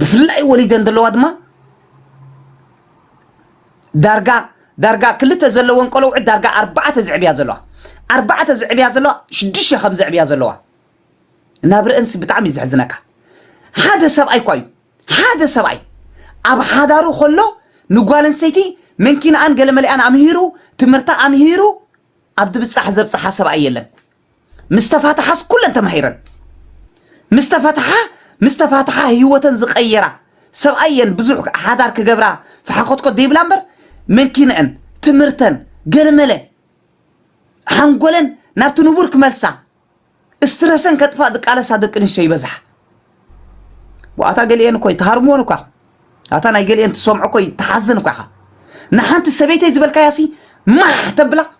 ብፍላይ ወሊደን ዘለዋ ድማ ዳርጋ ዳርጋ ክልተ ዘለወን ቆልዑ ዳርጋ ኣርባዕተ ዝዕብያ ዘለዋ ኣርባዕተ ዝዕብያ ዘለዋ ሽዱሽተ ከም ዘዕብያ ዘለዋ ናብ ርእንስ ብጣዕሚ እዩ ዘሕዝነካ ሓደ ሰብኣይ እኳ እዩ ሓደ ሰብኣይ ኣብ ሓዳሩ ከሎ ንጓል ኣንስተይቲ መንኪናኣን ገለ መሊኣን ኣምሂሩ ትምህርታ ኣምሂሩ ኣብ ድብፃሕ ዘብፅሓ ሰብኣይ የለን ምስ ተፋትሓስ ኩለን ተማሂረን ምስ ተፈትሓ ምስ ተፋትሓ ህይወተን ዝቐየራ ሰብኣይ እየን ብዙሕ ሓዳር ክገብራ ፈሓኮትኮት ዘይብላ እምበር መንኪነአን ትምህርተን ገለመለ ሓንጎለን ናብቲ ንቡር ክመልሳ እስትረሰን ከጥፋእ ዝቃለሳ ደቂ ኣንስትዮ ይበዝሓ ዋኣታ ገሊአን እኮ ይተሃርምዎን እኳ ኣታ ናይ ገሊአን ትሰምዖ እኮ ይተሓዝን እኳ ኢኻ ንሓንቲ ሰበይተይ ዝበልካያሲ ማሕ ተብላ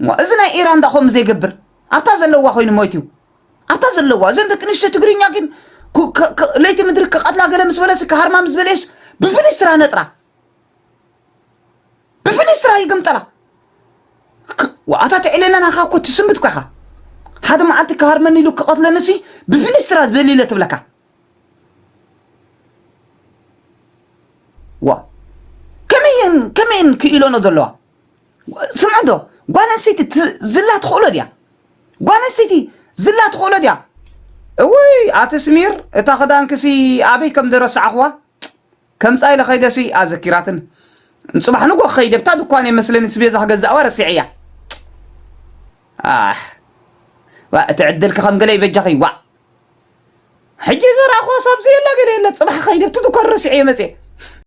እሞ እዚ ናይ ኢራን ዳ ከምኡ ዘይገብር ኣብታ ዘለዋ ኮይኑ ሞይት እዩ ኣብታ ዘለዋ እዘን ደቂ ኣንስትዮ ትግርኛ ግን ኩ- ከ- ከ- ለይቲ ምድሪ ክቐትላ ገለ ምስ በለስ ክሃርማ ምስ በለየስ ብፍኒስትራ ነጥራ ብፍኒስትራ ይግምጠላ ክ- ዋኣታ ትዕሌና ናኻ እኮ ትስምብት እኮ ኢኻ ሓደ መዓልቲ ክሃርመኒ ኢሉ ክቐትለኒ ሲ ብፍኒስትራ ዘሊለ ትብለካ ዋ ከመይን ከመይን ክኢሎኖ ዘለዋ ስምዑ ዶ ጓል ኣንስተይቲ ዝላ ትኽእሎ ድያ? ጓል ኣንስተይቲ ዝላ ትኽእሎ ድያ? እውይ ኣቲ ስሚር እታ ክዳንክሲ ኣበይ ከም ዝረሳዕኽዋ ከምፃ ኢለ ከይደሲ ኣዘኪራትን ፅባሕ ንጎ ክኸይድ ኣብታ ድኳን እየ መስለኒ ስቤዛ ክገዛእዋ ረሲዐያ እቲ ዕድልኪ ከም ገለ ይበጃኺ ዋእ ሕጂ ዘረኣኽዋ ሳብዚ የላ ገለ የለ ፅባሕ ከይድ ኣብቲ ድኳን ረሲዐ እየ መፅየ